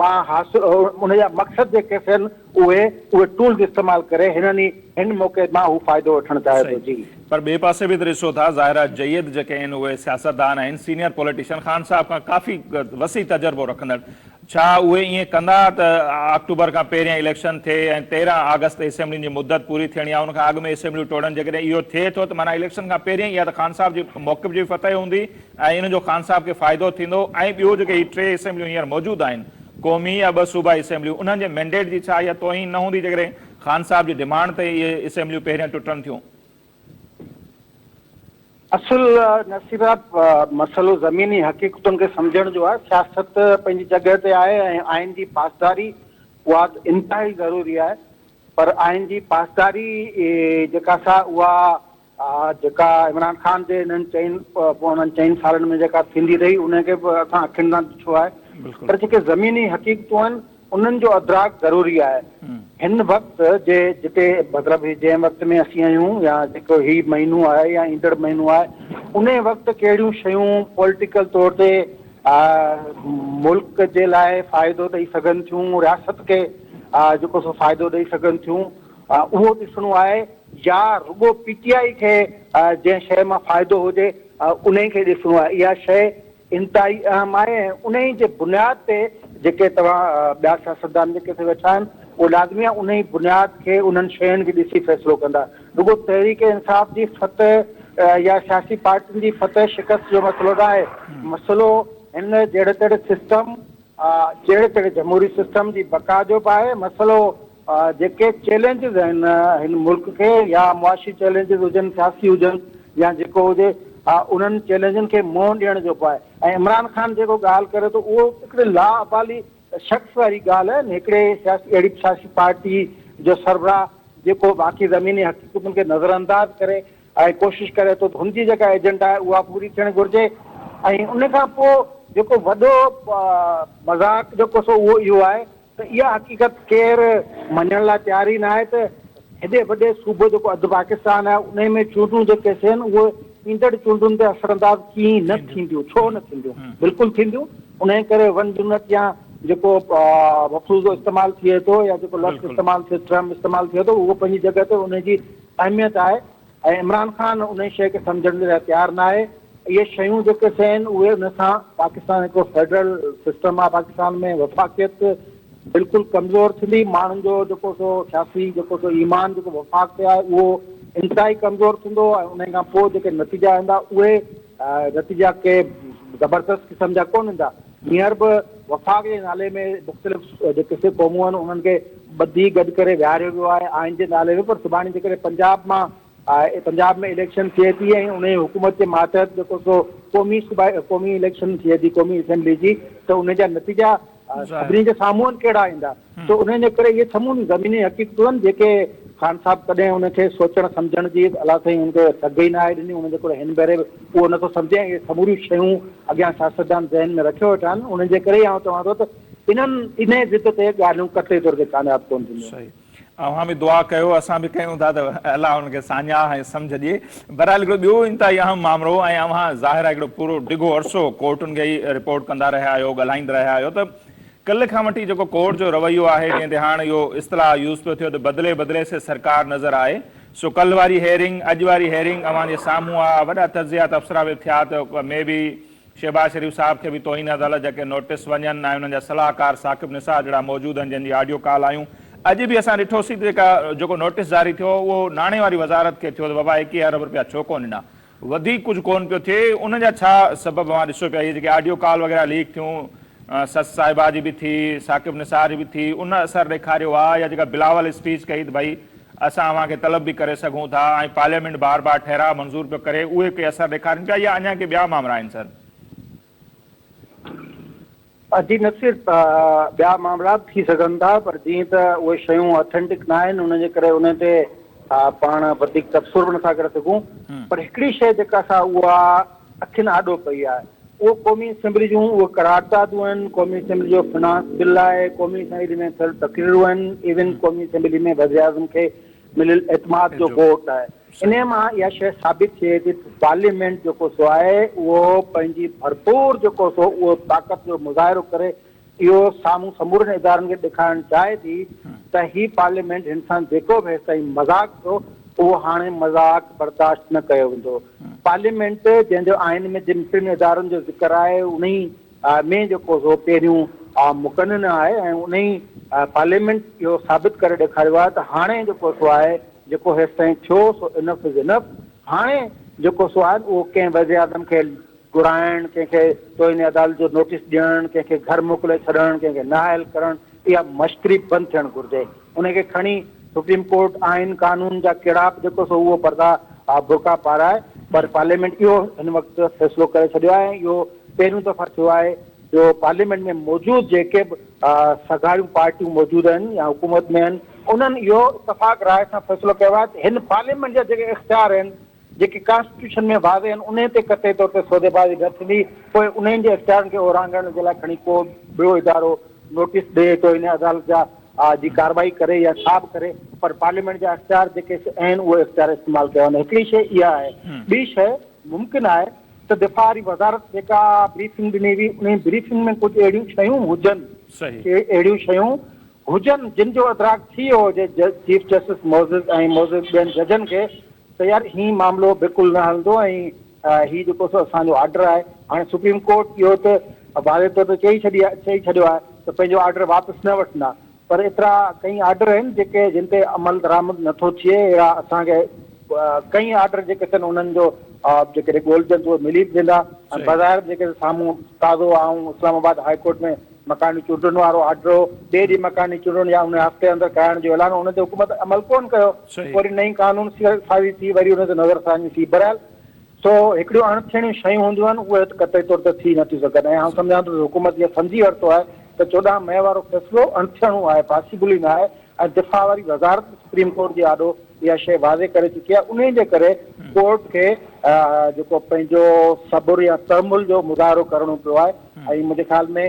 مان حاصل، ان جا مقصد جيڪي سي آهن، اهي اهي ٽولز استعمال ڪري هنن ئي هن موقعي مان هو فائدو وٺڻ چاهي ٿو جي. پر ٻئي پاسي به ته ڏسو ٿا ظاهرا جيد جيڪي آهن اهي سياستدان آهن سينئر پوليٽيشن خان صاحب کان ڪافي وسيع تجربو رکندڙ ڇا اهي ائين ڪندا ته آڪٽوبر کان پهريان اليڪشن ٿئي ۽ تيرهن آگسٽ تي اسيمبلين جي مدت پوري ٿيڻي آهي ان کان اڳ ۾ اسيمبليون ٽوڙن جيڪڏهن اهو ٿئي ٿو ته معنيٰ اليڪشن کان پهريان ئي يا ته خان صاحب جي موقف جي فتح هوندي ۽ ان جو خان صاحب کي فائدو ٿيندو ۽ ٻيو جيڪي هي ٽي اسيمبليون هينئر موجود آهن قومي يا ٻه صوبائي اسيمبليون انهن جي مينڊيٽ جي ڇا اها توهين نه هوندي جيڪڏهن خان صاحب جي ڊمانڊ تي اهي اسيمبليون پهريان ٽٽن ٿيون. اصل نصير صاحب مسئلو زميني حقيقتن کي سمجهڻ جو آهي، سياست پنهنجي جڳهه تي آهي ۽ آئين جي پاسداري اها انتهائي ضروري آهي پر آئين جي پاسداري جيڪا سا اها اها جيڪا عمران خان جي انهن چئن پوڻن چئن سالن ۾ جيڪا ٿيندي رهي ان کي به اسان اکين سان ڏٺو آهي پر جيڪي زميني حقيقتون آهن انهن جو ادراڪ ضروري آهي هن وقت جي جتي مطلب هي جنهن وقت ۾ اسين آهيون يا جيڪو هي مهينو آهي يا ايندڙ مهينو آهي انهي وقت ڪهڙيون شيون پوليٽيڪل طور تي ملڪ جي لاء فائدو ڏئي سگهن ٿيون رياست کي جيڪو سو فائدو ڏئي سگهن ٿيون اهو ڏسڻو آهي يا رڳو پي ٽي آء کي جنهن شيء مان فائدو هجي انهي کي ڏسڻو آهي اها شيء انتهائي اهم آهي ۽ انهي جي بنياد تي جيڪي توهان ٻيا سياستدان جيڪي ٿي ويٺا آهن اهي لازمي آهي انهي بنياد کي انهن شين کي ڏسي فيصلو ڪندا رڳو تحريڪ انصاف جي فتح يا سياسي پارٽين جي فتح شڪست جو مسئلو ناهي مسئلو هن جهڙي تهڙي سسٽم آء جهڙي تهڙي جمهوري سسٽم جي بقا جو به آهي مسئلو، جيڪي چئلينجز آهن هن ملڪ کي يا معاشي چئلينجز هجن، سياسي هجن يا جيڪو هجي انهن چئلينجن کي منهن ڏيڻ جو به آهي ۽ عمران خان جيڪو ڳالهه ڪري ٿو اهو هڪڙي لا ابالي شخص واري ڳالهه آهي هڪڙي سياسي اهڙي سياسي پارٽي جو سربراهه جيڪو باقي زميني حقيقتن کي نظرانداز ڪري ۽ ڪوشش ڪري ٿو ته هن جي جيڪا ايجنڊا آهي اها پوري ٿيڻ گهرجي ۽ ان کان پوء جيڪو وڏو مذاق جيڪو سو اهو اهو آهي ته اها حقيقت ڪير مڃڻ لاء تيار ئي ناهي ته هيڏي وڏي صوبو جيڪو اڌ پاڪستان آهي انهي ۾ چونڊون جيڪي ٿين اهي ايندڙ چونڊن تي اثر انداز ڪيئن نه ٿينديون ڇو نه ٿينديون بلڪل ٿينديون انهي ڪري ون يونٽ يا جيڪو مفروضو استعمال ٿئي ٿو يا جيڪو لفظ استعمال ٿئي ٽرم استعمال ٿئي ٿو اهو پنهنجي جڳهه تي انهي جي اهميت آهي ۽ عمران خان انهي شيء کي سمجهڻ جي لاء تيار ناهي. اهي شيون جيڪي سي آهن اهي ان سان پاڪستان هڪڙو فيڊرل سسٽم آهي پاڪستان ۾ وفاقيت بلڪل ڪمزور ٿيندي ماڻهن جو جيڪو سو سياسي جيڪو سو ايمان جيڪو وفاق تي آهي اهو انتهائي ڪمزور ٿيندو ۽ انهي کان پوء جيڪي نتيجا ايندا اهي نتيجا ڪي زبردست قسم جا ڪون ايندا. هينئر به وفاق جي نالي ۾ مختلف جيڪي سک قومون آهن انهن کي ٻڌي گڏ ڪري ويهاريو ويو آهي آئين جي نالي ۾ پر سڀاڻي جيڪڏهن پنجاب مان پنجاب ۾ اليڪشن ٿئي ٿي ۽ انهي حڪومت جي ماتحت جيڪو سو قومي صوبائي قومي اليڪشن ٿئي ٿي قومي اسيمبلي جي ته انهي جا نتيجا سڀني جي سامهون ڪهڙا ايندا. سو انهن جي ڪري اهي سموريون زميني حقيقتون آهن جيڪي خان صاحب ڪڏهن ان کي سوچڻ سمجهڻ جي الله سائين ان کي سگهه ئي ناهي ڏني، ان جي ڪري هن ڀيري به اهو نٿو سمجهي ۽ اهي سموريون شيون اڳيان سياستدان ذهن ۾ رکيو ويٺا آهن انهن جي ڪري ئي آئون چوان ٿو ته انهن انهي ضد تي ڳالهيون قطعي طور تي ڪامياب ڪونه ٿينديون. صحيح. اوهان به دعا ڪيو اسان به ڪيون ٿا ته الله انهن کي ساڃاهه ۽ سمجهه ڏئي. بهرحال هڪڙو ٻيو انتهائي اهم مامرو ۽ اوهان ظاهر آهي هڪڙو پورو ڊگهو عرصو ڪورٽن کي ئي رپورٽ ڪندا رهيا آهيو ڳالهائيندا رهيا آهيو ته ڪلهه کان وٺي جيڪو ڪورٽ جو رويو آهي جنهن تي هاڻ اهو اصطلاح يوز پيو ٿيو ته بدلي بدلي سي سرڪار نظر آئي سو ڪلهه واري هيئرنگ اڄ واري هيئرنگ اوهان جي سامهون آ وڏا تجزيا تبصرا به ٿيا ته مي بي شهباز شريف صاحب کي به توهين عدالت جا ڪي نوٽس وڃن ۽ انهن جا صلاحڪار ثاقب نثار جهڙا موجود آهن جن جي آڊيو ڪال آيون اڄ به اسان ڏٺوسي ته جيڪا جيڪو نوٽس جاري ٿيو اهو ناڻي واري وزارت کي ٿيو ته بابا ايڪيهه ارب رپيا ڇو ڪونه ڏنا وڌيڪ ڪجهه ڪونه پيو ٿئي ان جا ڇا سبب اوهان ڏسو پيا هي جيڪي آڊيو ڪال وغيره ليڪ ٿيون سس صاحبه جي به ٿي ثاقب نثار جي به ٿي ان اثر ڏيکاريو آ يا جيڪا بلاول اسپيچ ڪئي ته ڀئي اسان اوهان کي طلب به ڪري سگهون ٿا ۽ پارليامينٽ بار بار ٺهراء منظور پيو ڪري اهي ڪي اثر ڏيکارين پيا يا اڃان ڪي ٻيا مامرا آهن سر عجيب نه صرف ٻيا معاملا به ٿي سگهن ٿا پر جيئن ته اهي شيون Authentic نه آهن ان جي ڪري انهن تي پاڻ وڌيڪ تبصرو به نٿا ڪري سگهون پر هڪڙي شيء جيڪا سا اها اکين آڏو پئي آهي اهو قومي اسيمبلي جون اهي قراردادون آهن قومي اسيمبلي جو فنانس بل آهي قومي اسيمبلي ۾ ٿيل تقريرون آهن ايون قومي اسيمبلي ۾ وزيراعظم کي مليل اعتماد جو ووٽ آهي، انهيء مان اها شيء ثابت ٿئي ٿي ته پارليامينٽ جيڪو سو آهي اهو پنهنجي ڀرپور جيڪو سو اهو طاقت جو مظاهرو ڪري اهو سامهون سمورن ادارن کي ڏيکارڻ چاهي ٿي ته هي پارليامينٽ هن سان جيڪو به هيستائين مذاق ٿيو اهو هاڻي مذاق برداشت نه ڪيو ويندو پارليامينٽ جنهن جو آئين ۾ جن ٽن ادارن جو ذڪر آهي انهي ۾ جيڪو سو پهريون مقنن آهي ۽ انهي پارليامينٽ اهو ثابت ڪري ڏيکاريو آهي ته هاڻي جيڪو سو آهي جيڪو هيستائين ٿيو سو انف از انف هاڻي جيڪو سو آهن اهو ڪنهن وزيراعظم کي گهرائڻ ڪنهن کي توهين عدالت جو نوٽيس ڏيڻ ڪنهن کي گهر موڪلي ڇڏڻ ڪنهن کي نااهل ڪرڻ اها مشڪري بند ٿيڻ گهرجي. ان کي کڻي سپريم ڪورٽ آئين قانون جا ڪيڙاپ جيڪو سو اهو پردا برقعا پارائي پر پارليامينٽ اهو هن وقت فيصلو ڪري ڇڏيو آهي ۽ اهو پهريون دفعا ٿيو آهي جو پارليامينٽ ۾ موجود جيڪي به سگهاريون پارٽيون موجود آهن يا حڪومت ۾ آهن انهن اهو اتفاق راء سان فيصلو ڪيو آهي ته هن پارليامينٽ جا جيڪي اختيار آهن جيڪي ڪانسٽيٽيوشن ۾ واضح آهن انهي تي قطعي طور تي سوديبازي نه ٿيندي پوء انهن جي اختيارن کي اورانگهڻ جي لاء کڻي ڪو ٻيو ادارو نوٽيس ڏئي تو انهي عدالت جا جي ڪارروائي ڪري يا ڇا به ڪري پر پارليامينٽ جا اختيار جيڪي آهن اهي اختيار استعمال ڪيا وڃن هڪڙي شئي اها آهي ٻي شئي ممڪن آهي ته دفاع واري وزارت جيڪا بريفنگ ڏني هئي انهي بريفنگ ۾ ڪجهه اهڙيون شيون هجن اهڙيون شيون هجن جن جو ادراڪ ٿي ويو هجي چيف جسٽس معزز ۽ معزز ٻين ججن کي ته يار هي معاملو بلڪل نه هلندو ۽ هي جيڪو سو اسان جو آرڊر آهي هاڻي سپريم ڪورٽ اهو ته واضح طور تي چئي ڇڏي آهي چئي ڇڏيو آهي ته پنهنجو آرڊر واپس نه وٺندا پر ايترا ڪئين آرڊر آهن جيڪي جن تي عمل درآمد نه ٿو ٿئي اهڙا اسان کي ڪئين آرڊر جيڪي ٿين انهن جو جيڪڏهن ڳولجن ته اهي ملي به ويندا ۽ بظاهر جيڪي سامهون تازو آئون اسلام آباد هاء ڪورٽ ۾ مڪاني چونڊن وارو آرڊرو ٻئي ڏينهن مڪاني چونڊن يا ان هفتي اندر ڪرائڻ جو اعلان هو ان تي حڪومت عمل ڪون ڪيو وري نئين قانون سازي ٿي وري ان تي نظر ثاني ٿي برحال سو هڪڙيون اڻ ٿيڻيون شيون هونديون آهن اهي ته قطعي طور تي ٿي نٿيون سگهن ۽ آئون سمجهان ٿو ته حڪومت اهو سمجهي ورتو آهي ته چوڏهن مئي وارو فيصلو اڻ ٿيڻو آهي پاسيبل ئي نه آهي دفاع واري وزارت به سپريم ڪورٽ جي آڏو اها شيء واضح ڪري چڪي آهي انهي جي ڪري ڪورٽ کي جيڪو پنهنجو صبر يا تحمل جو مظاهرو ڪرڻو پيو آهي ۽ منهنجي خيال ۾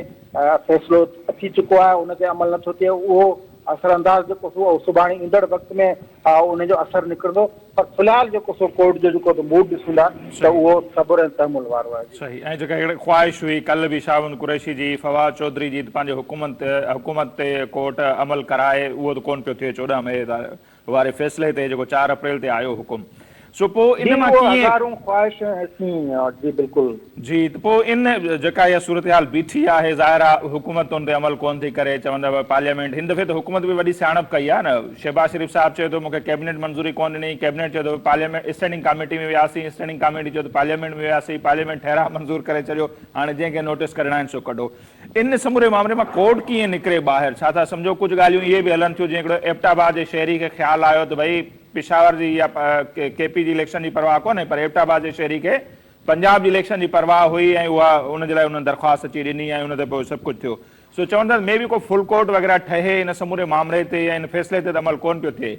فيصلو اچي چڪو آهي ان تي عمل نٿو ٿئي اهو اثر انداز جيڪو ٿيو اهو سڀاڻي ايندڙ وقت ۾ ان جو اثر نڪرندو پر في الحال جيڪو سو ڪورٽ جو جيڪو تو موڊ ڏسون ٿا ته صحيح اهو صبر ۽ تحمل وارو آهي جي. صحيح ۽ جيڪا هڪڙي خواهش هئي ڪل به شاهبند قريشي جي فواد چوڌري جي ته پنهنجي حڪومت حڪومت تي ڪورٽ عمل ڪرائي اهو ته ڪون پيو ٿئي چوڏهن مئي واري فيصلي تي جيڪو چار اپريل تي آيو حڪم سو پوء جي ان مان اهو ڪيئن هزارون خواهشون حسين جي بلڪل. جي ته پوء ان جيڪا اها صورتحال بيٺي آهي ظاهر آ حڪومت ان تي عمل ڪونه ٿي ڪري چوندو پارليامينٽ هن دفعي ته حڪومت به وڏي سياڻپ ڪئي آهي نه شهباز شريف صاحب چيو ٿو مون کي ڪيبنيٽ منظوري ڪونه ڏني ڪيبنيٽ چيو ته پارليامينٽ اسٽينڊنگ ڪاميٽي ۾ وياسين اسٽينڊنگ ڪاميٽي چيو ته پارليامينٽ ۾ وياسين پارليامينٽ ٺهراء منظور ڪري ڇڏيو هاڻي جنهن کي نوٽس ڪڍڻا آهن سو ڪڍو ان سموري معاملي مان ڪورٽ ڪيئن نڪري ٻاهر ڇا ٿا سمجهو ڪجهه ڳالهيون اهي به هلن ٿيون جيئن هڪڙو ايبٽ آباد جي شهري کي خيال آيو ته ڀئي پشاور جي يا ڪي پي جي اليڪشن جي پرواهه ڪونه پر ايبٽ آباد جي شهري کي پنجاب جي اليڪشن جي پرواهه هئي ۽ اها ان جي لاء انهن درخواست اچي ڏني ۽ ان تي پوء سڀ ڪجهه ٿيو. سو چون ٿا ته مي بي ڪو فل ڪورٽ وغيره ٺهي ان سموري معاملي تي يا ان فيصلي تي ته عمل ڪونه پيو ٿئي.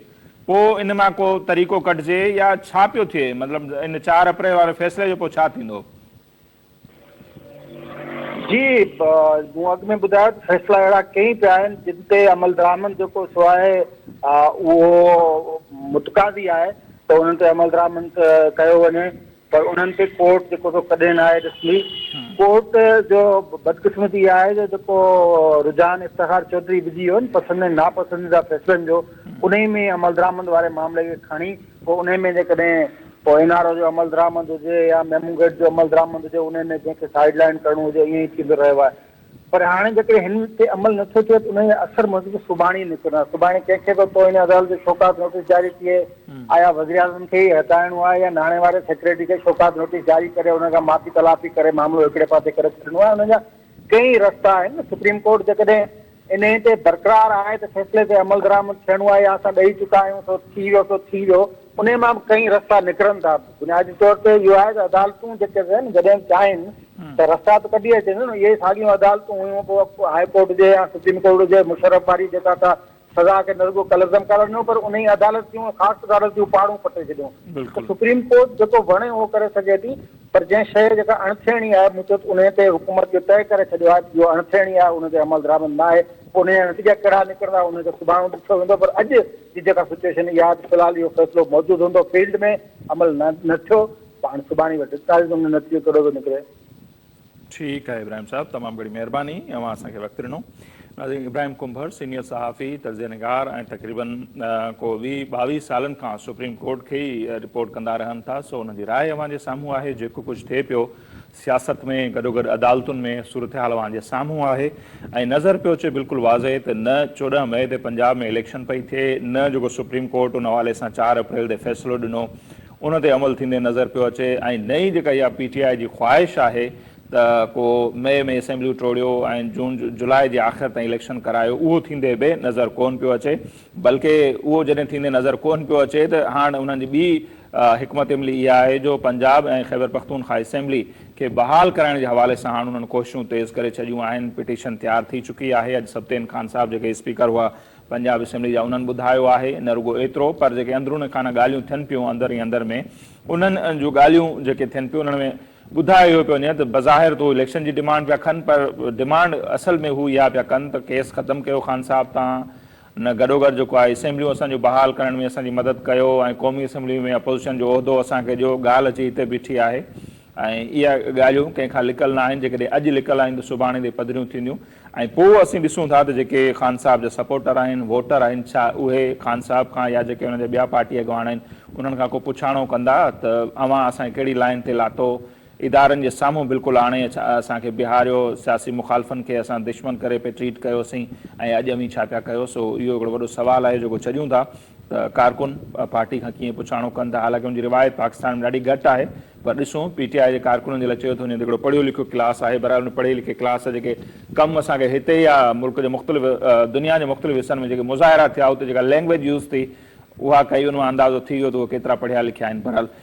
پوء ان مان ڪو طريقو ڪڍجي يا ڇا پيو ٿئي؟ مطلب ان چار اپريل واري فيصلي جو پوء ڇا ٿيندو؟ جي مون اڳ ۾ ٻڌايو ته فيصلا اهڙا ڪئين پيا آهن جن تي عملدرآمد جيڪو سو آهي اهو متقاضي آهي ته انهن تي عملدرآمد ڪيو وڃي. پر انهن کي ڪورٽ جيڪو سو ڪڏهن نه آهي ڏسندي. ڪورٽ جو بدقسمتي اها آهي جو جيڪو رجحان افتخار چوڌري وجهي ويو نه پسند ۽ ناپسنديده فيصلن جو انهي ۾ عملدرآمد واري معاملي کي کڻي پوء انهي ۾ جيڪڏهن پوء اين آر او جو عملدرآمد هجي يا ميمون گيٽ جو عملدرآمد هجي انهي ۾ جنهن کي سائيڊ لائين ڪرڻو هجي ائين ئي ٿيندو رهيو آهي. پر هاڻي جيڪڏهن هن تي عمل نه ٿو ٿئي ته انهيء اثر موجب سڀاڻي نه ته نه سڀاڻي ڪنهن کي به توهين عدالت جو شوڪاز نوٽيس جاري ٿئي. آيا وزيراعظم کي ئي هٽائڻو آهي يا ناڻي واري سيڪريٽري کي شوڪاز نوٽيس جاري ڪري انهن کان معافي تلافي ڪري معاملو هڪڙي پاسي ڪري ڇڏڻو آهي. انهن جا ڪيئي رستا آهن. سپريم ڪورٽ جيڪڏهن انهيء تي برقرار آهي ته فيصلي تي عملدرآمد ٿيڻو آهي يا اسان ڏئي چڪا آهيون سو ٿي ويو سو ٿي ويو. انهيء مان به ڪئين رستا نڪرن ٿا. بنيادي طور تي اهو آهي ته عدالتون جيڪي آهن جڏهن به چاهين ته رستا ته ڪڍي اچن ٿيون نه. اهي ساڳيون عدالتون هيون پوء هاء ڪورٽ هجي يا سپريم ڪورٽ هجي مشرف واري جيڪا سا سزا کي نه رڳو ڪلعدم قرار ڏنو پر انهيء عدالت جون خاص عدالت جون پاڙون پٽي ڇڏيون ته سپريم ڪورٽ جيڪو وڻي اهو ڪري سگهي ٿي پر جنهن شيء جيڪا اڻ ٿيڻي آهي مون چيو ته انهيء تي حڪومت جو طئي ڪري ڇڏيو آهي ته اهو اڻ ٿيڻي آهي ان تي عملدرآمد نه آهي پوء انهيء جا نتيجا ڪهڙا نڪرندا انهيء کي سڀاڻو ڏٺو ويندو پر اڄ جي جيڪا سچوئيشن اها آهي ته في الحال اهو فيصلو موجود هوندو فيلڊ ۾ عمل نه نه ٿيو ته هاڻي سڀاڻي اهو ڊسٽارج ۾ نتيجو ڪهڙو ٿو نڪري. ٺيڪ آهي ابراهيم صاحب تمام گهڻي مهرباني اوهان اسان کي وقت ڏنو. ناظرين ابراهيم ڪنڀر سينيئر صحافي تجزيه نگار ۽ تقريبن ڪو ويهه ٻاويهه سالن کان سپريم ڪورٽ کي ئي رپورٽ ڪندا رهن ٿا سو انهن جي راء اوهان جي سامهون آهي جيڪو ڪجهه ٿئي پيو سياست ۾ گڏوگڏ عدالتن ۾ صورتحال اوهان جي سامهون آهي ۽ نظر پيو اچي بلڪل واضح ته نه چوڏهن مئي تي پنجاب ۾ اليڪشن پئي ٿئي نه جيڪو سپريم ڪورٽ ان حوالي سان چار اپريل تي فيصلو ڏنو ان تي عمل ٿيندي نظر پيو اچي ۽ نه ئي جيڪا اها پي ٽي آء جي خواهش آهي ته ڪو مئي ۾ اسيمبليون ٽوڙيو ۽ جون جولاء جي آخر تائين اليڪشن ڪرايو اهو ٿيندي به نظر ڪون پيو اچي بلڪه اهو جڏهن ٿيندي نظر ڪون پيو اچي ته هاڻ انهن جي ٻي حڪمت عملي اها آهي جو پنجاب ۽ خيبرپختونخوا اسيمبلي کي بحال ڪرائڻ جي حوالي سان هاڻ انهن ڪوششون تيز ڪري ڇڏيون آهن، پٽيشن تيار ٿي چڪي آهي، اڄ سبطين خان صاحب جيڪي اسپيڪر هئا پنجاب اسيمبلي جا انهن ٻڌايو آهي، نه رڳو ايترو پر جيڪي اندرون خانه ڳالهيون ٿين پيون اندر ئي اندر ۾ انهن جون ڳالهيون جيڪي ٿين پيون انهن ۾ ٻڌايو اهو پيو وڃي ته بظاهر ته هو اليڪشن جي ڊمانڊ پيا ڪن پر ڊمانڊ اصل ۾ هو اها پيا ڪن ته ڪيس ختم ڪيو خان صاحب تان ان گڏوگڏ جيڪو آهي اسيمبليون اسان جون بحال ڪرڻ ۾ اسان جي مدد ڪيو ۽ قومي اسيمبلي ۾ اپوزيشن جو عهدو اسان کي ڏيو ڳالهه اچي هتي بيٺي آهي ۽ اها ڳالهيون ڪنهن کان لڪل نه آهن جيڪڏهن اڄ لڪل آهن ته سڀاڻي تي پڌريون ٿينديون ۽ پوء اسين ڏسون ٿا ته جيڪي خان صاحب جا سپورٽر آهن ووٽر آهن ڇا اهي خان صاحب کان يا جيڪي انهن جا ٻيا پارٽي اڳواڻ آهن انهن کان ڪو پڇاڻو ڪندا ته اوهان اسان کي ڪهڙي لائين تي لاتو ادارن جي سامهون بلڪل آڻي اسان کي بيهاريو، سياسي مخالفن کي اسان دشمن ڪري پئي ٽريٽ ڪيوسين ۽ اڄ اوهين ڇا پيا ڪيو، سو اهو هڪڙو وڏو سوال آهي جيڪو ڇڏيون ٿا ته ڪارڪن پارٽي کان ڪيئن پڇاڻو ڪن ٿا، حالانڪه ان جي روايت پاڪستان ۾ ڏاڍي گهٽ آهي پر ڏسون پي ٽي آء جي ڪارڪنن جي لاء چيو ٿو وڃي ته هڪڙو پڙهيو لکيو ڪلاس آهي، بهرحال ان پڙهي لکي ڪلاس جيڪي ڪم اسان کي هتي يا ملڪ جي مختلف دنيا جي مختلف حصن ۾ جيڪي مظاهرا ٿيا اتي جيڪا لينگويج يوز ٿي اها ڪئي ان مان اندازو ٿي ويو ته اهي ڪيترا پڙهيا لکيا آهن بهرحال